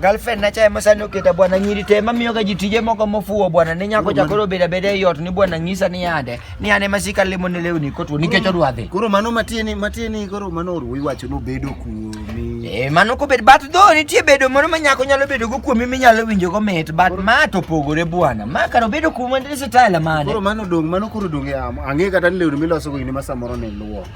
Girlfriend na cha emosani oketa bwana nyiri te mamiyo ga ji tije moko mofuwo bwana ne nyako cha koro beda beda ei ot ni bwana nyisa ni yande ni ane masika limo ne lewni kotwo nikech odwa dhi. Koro mano matieni matieni koro mano oruwo iwacho nobedo kuomi. Eh mano kobed but though nitie bedo moro ma nyako nyalo bedo go kuomi minyalo winjo go mit but ma to pogore bwana ma kar obedo kuomi ndiri sitala mane. Koro mano dong' mano koro dong' e am- ang'e kata ni lewni miloso go gini ma samoro ne luoko.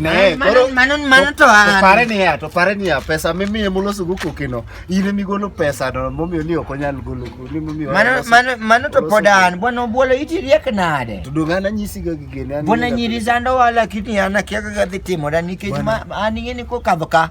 Ne, koro mano mano to an. Pare ni ya, to pare ni ya pesa mimi e mulo sugu kukino. Ine mi golo pesa no momiyo ni ok onyal golo ni momiyo. Mano mano mano to pod an bwana obwolo iti riek nade. To donga na nyisi ga gigene. Bwana nyiri zando wala kiti ana kiaga ga dhitimo da nikech ma an ing'e ni kokadho ka.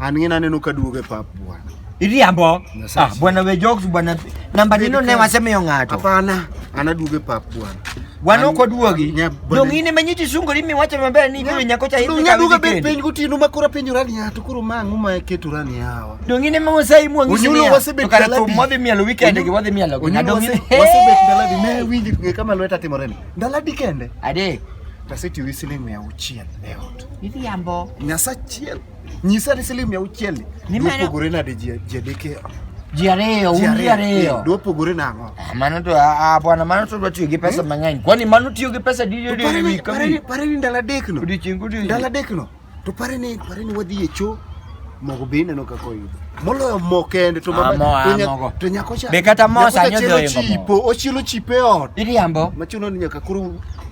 An ng'ina aneno ka duogo e pap bwana. Iriambo. Nyasaye Ah, si- bwana we jokes bwana. Namba Baby nino ne come. wasemiyo ng'ato. Hapana, anaduogo e pap bwana. Wan An- ok oduogi. Nya- bwana- Dong in ema nyiti sungori miwacho maber ni ibiro nyako cha Dong idhi aduoga bet kawi piny gotieno ma koro apenjora ni yato koro ma ang'o ma ketora ni yawa. Dong in ema wasai muangi Onyulo simia. wasebet Kara daladi. thum wadhi mielo weekend gi wadhi mielo gi. Onyulo Dong in. wase- wasebet daladi ne winji ng'e kama lweta timore ni. Daladi kende. Ade. Tasetiyo gi siling' mia auchiel e ot. Idhiambo. Nyasa achiel. Nyisa ni siling mia auchiel ni. Ni mano- Dwopogore nade ji ji adek e- Ji ariyo, ji un ji ariyo. Eh, Dwopogore nang'o? Ah, Mano to ah, ah, bwana mano to dwa tiyo gi pesa mang'eny. Kwani mano tiyo gi pesa di di di Pare ni- wik ka pare ni- wik. pare ni ndalo adek no. Odiochieng' ka odiochieng'. Ndalo adek no. To pare ni pare ni wadhi e choo. Mogo be ineno kaka oyudo. Moloyo mo kende to Ah, mo, ah, to nya- mogo. to nyako cha. Be kata mo nyako cha sani odhi chielo oingo mo. chipo, ochielo chipo e ot. Idhiambo. Machuno ni nyaka koro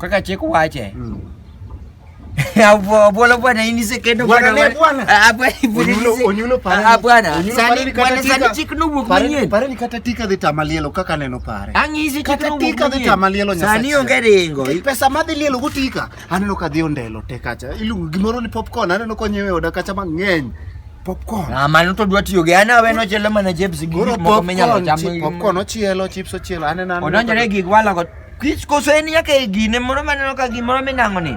kaka chik wache hmm. Bwana bwana ini sekendo bwana bwana. Ah bwana bwana. Onyulo pare. Ah bwana. Sani bwana sani chiknu buk manyien. Pare ni kata tika dhi tamalielo kaka neno pare. Ang'izi chiknu buk manyien. Kata tika dhi tamalielo nyasa. Sani onge ringo. Pesa ma dhi lielo gutika. Aneno ka dhi ondelo te kacha. Iluongo gimoro ni popcorn aneno konyewe oda kacha mang'eny. Popcorn. Ah mano to dwa tiyo gi ana we no chelo mana chips gi moko minyalo chamo. Popcorn ochielo, chips ochielo. Aneno aneno. Odonjore gig wala Kich koso en nyaka e gine moro maneno ka gimoro minang'o ni.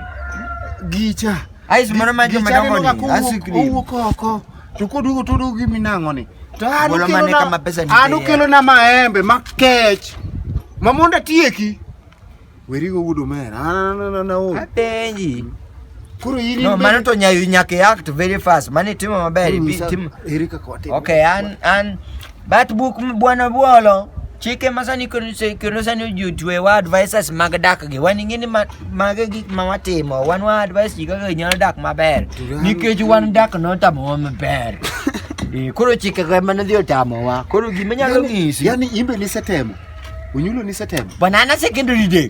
Gicha. Ais moro ma joma dongo ni. Asikri. Owuok oko. To koduogo to oduogo gi minang'o ni. To an Bolo mane okelona- kama pesa nitie an ya. okelona maembe makech ma mondo atieki werigo wuod omera An- an- an- aol. Apenji. koro in No, in mano bende- to nyayo nyaka i act very fast. Mano itimo maber. Koro ibi- nyisa, tim- ere kaka watimo? Okay, an an But buk bwana Bwolo chike ma sani kendo sani ojutuewa wa advices mag dak gi wan ing'e ni mage gik ma watimo wan wa advice ji kaka nyalo dak maber nikech wan dak notamowa maber eh, koro chike ga mana dhi otamowa koro gima nyalo ng'isi yani imbe nisetemo onyulo nisetemo banana secondary day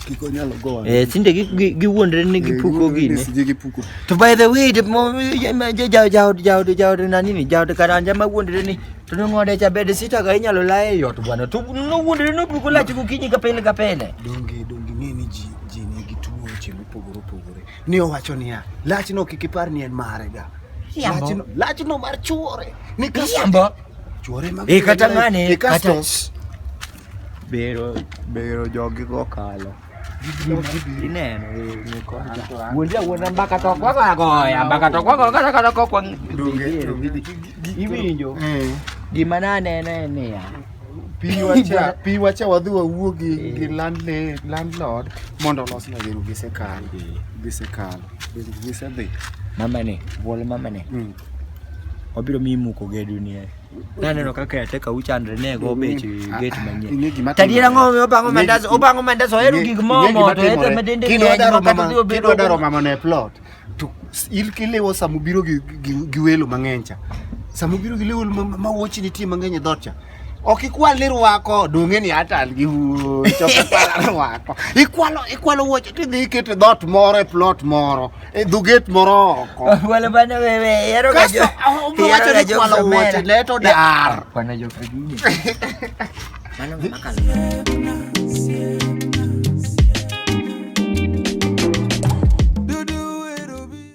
kik onyalo gowa eh sinde gi gi- giwuondre ni gipuko gini sije gipuko to by the way the mo- ja- ma- ja- ja- jaod jaod jaod nani ni jaod karanja ma wuondre ni to nong'ode cha bed sita ga inyalo laye yot bwana to nowuondre nopuko lach gokinyi ka pile ka pile donge donge ng'e ni ji ji nigi tuoche mopogore opogore ni owacho niya lachno kik ipar ni en mare ga Riambo. Lachno- lachno mar chuore ni kasto- Riambo. chuore mag Eh, kata ng'ane, Eh, kasto- kata- bero bero jogi go kalo ineno wuonja wuonja mbaka to kwako agoya mbaka to kwako kata kata kokwa iwinjo gima naneno en niya pi wacha wadhi wawuo gi eh. landlord mondo olosna gino gisekalo eh. gisekalo gisedhi mamane bwol mamane hmm. wabiro miyi muko gedo nie naneno kaka yateka uchandre ne go bech get manyien tadiera ng'ome obango mandas obango mandas ohero gik momo to ete medende kidwa daro mama ne plot to il kilewo sama ubiro gi welo mang'eny cha sama ubiro gi welo ma wuochi nitie mang'eny e dhot cha ok ikwal ni rwako donge ni atal gi chopo rwako ikwalo ikwalo wuoche tidhi ikete dhot moro e plot moro Eh, dhuget moro oko. Wala bana wewe, ero ga jo. Ero ga jo kwalo wote leto dar. Bana jo kagini. Mano makalo.